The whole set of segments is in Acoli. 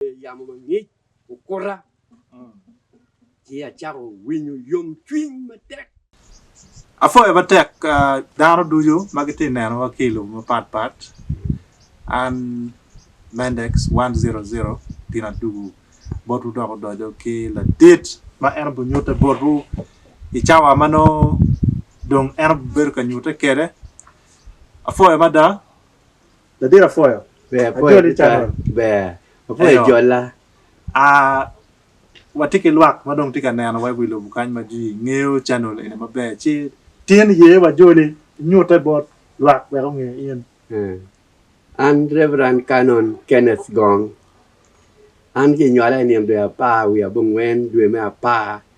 yamo mangic okuta, ci acako winyo yomcwiny matek. Apwoyo matek dano ducu ma gitye ka nenowa ki i lobo mapatpat. An Mendex one zero zero gin adugo botwu dok odoco ki ladit ma en obinyutte botwu i cawa ma nongo dong en obibedo ka nyutte kwede. Apwoyo mada Ladit apwoyo. Ber apwoyo ajoli cakol. Ber apwoyo jolla. Aa watye ki lwak ma dong tye ka neno wa i wi lobo kany ma ji ngeyo channel eni maber ci tin iye wa joli inyute bot lwak wek onge in. An Reverend Canon Kenneth Gong. An ki nywala i nino dwe apar wiye abongwen dwe me apar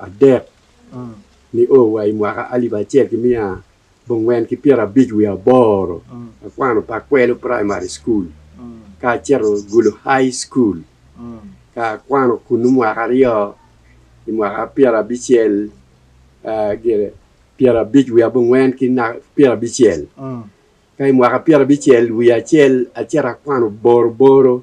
adek nio wa i mwaka alip acel ki miya abongwen ki pyerabic wiye aboro, akwano Pakwelo Primary School ka aceto Gulu High School ka akwano kunnu mwaka aryo i mwaka pyerabicel gire pyerabic wiye abongwen ki pyerabicel ka i mwaka pyerabicel wiye acel aceto akwano boroboro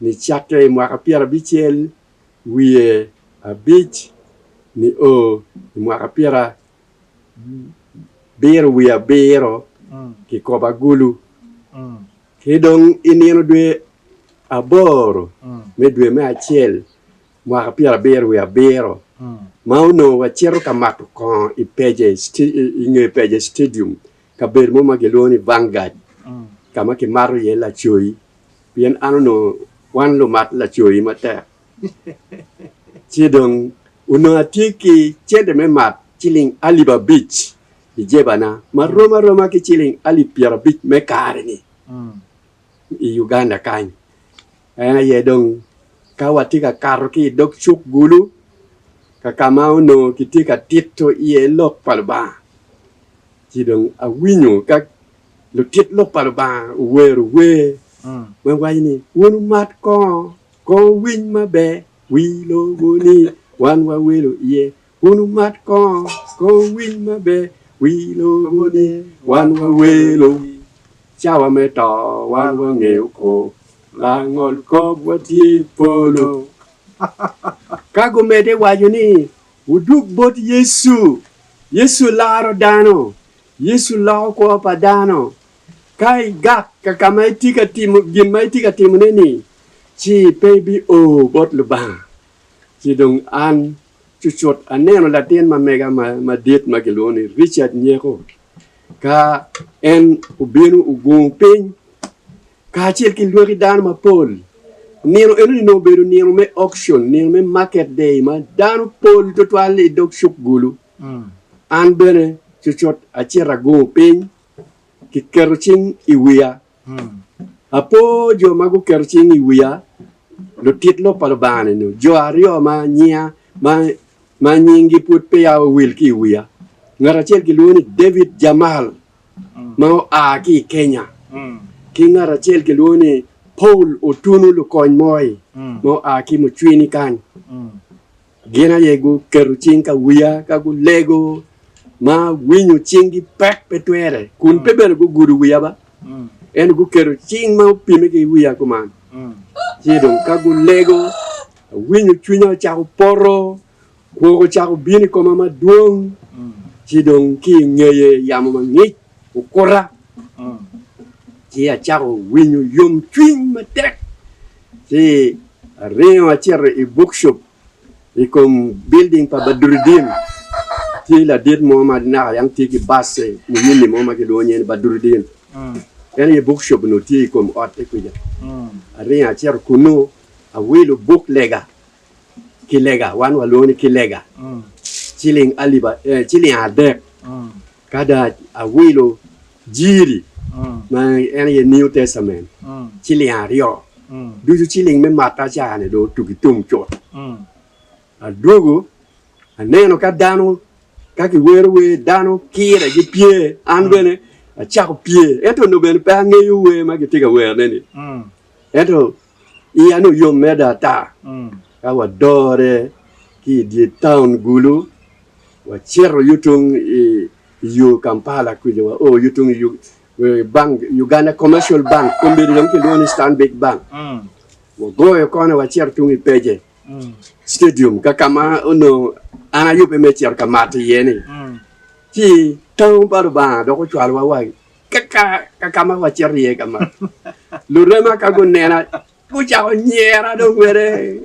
ni cakke i mwaka pyerabicel wiye abic nio i mwaka pyerabiro wiye abiro kikopo agulu, ki dong i nino dwe aboro me dwe me acel mwaka pyerabiro wiye abiro ma onongo wacito ka mato kongo i nge Peje Stadium kabedo mo ma gilwongo ni Vanguard ka ma kimato iye lacoyi pien an onongo wan lumat lacoyi matek. Ci dong onongo atye ki cente me mat ciling alip abic i jebana ma rom aroma ki ciling alip pyerabic me kare-ni i Uganda kany. En aye dong ka watye ka kato ki i dog cuk gulu ka ka ma onongo kitye ka tito iye Lok pa Lubanga, ci dong awinyo ka lutit Lok pa Lubanga owero wer ma waco ni, Wun wumat kongo, kongo winy maber, wi lobo-ni wan wawelo iye, Kun wumat kongo, ko wuwiny maber wi lobo ni, Wan wawelo, cawa me to wan wangeyo kop, langol kop watye i polo. Ka gumedde waco ni, Wudug bot Yecu, Yecu laro dano, Yecu loko kwo pa dano, ka igak ka ka ma itye ka timo gin ma itye ka timone-ni, ci pe ibi o bot Lubanga. Ci dong an cucut aneno latin ma mega madit ma kilwongo ni Ricat Nyeko ka en obino ogungo piny kacel ki lwaki dano mapol. Nino eno ni nongo obedo nino me auction, nino me market day ma dano pol twatwal i dog cuk gulu. Mm. An bene cucut acito agungo piny, kiketo cing i wiya. Apo jo ma guketo cing i wiya, lutit lok pa Lubanga-ni, nyo jo aryo ma nyinga ma nyinggi pud peya owil ki i wiya. Ngat acel kilwongo ni David Jamal ma oa ki i Kenya, ki ngat acel kilwongo ni Paul Otunu Lukony Moi ma oa ki Mucwini kany. Gin aye guketo cing ka wiya ka gulego, ma winyo cinggi pek pe twere, kun pe bene gugudo wiya ba, ento guketo cing ma opime ki wiya kuman. Ci dong ka gulego, awinyo cwinya ocako poto, kwok ocako bino i koma madwong, ci dong ki i ngeye yamo mangic. okuta, ci acako winyo yomcwiny matek, ci aringo acito i bukcup i kom bilding pa Badruddin, tye ladit mo ma naka yam tye ki bac-ce muyini mo ma kilwongo nying ni Badruddin, en aye bukcup onongo tye i kom otte kwica, aringo acito kunnu awilo buk lega ki lega, wan walwongo ni ki lega, ciling adek. Ka dong awilo jiri, ma en aye New Testament, ciling aryo, ducu ciling me matta ca-ni dong otuk ki tum cut. Adwogo, aneno ka dano, ka kiwero wer, dano kire gipye, an bene acako pye. Ento onongo bene pe angeyo wer ma kitye ka werne-ni. Ento Iya ni oyom meda ata ka wadore ki i dye taun Gulu, wacito yo tung i yo Kampala kuca, wao yo tung i bank, Uganda Commercial Bank, kombeddi dong kilwongo ni Stanbic Bank. Wagoyo kona wacito tung i Peje Stadium ka ka ma onongo an ayubbe me cito ka mato iye-ni. Ci taun pa Lubanga dok ocwalowa wa Kaka ma wacito iye ka ma, lurema ka gunena gucako nyera dong wele.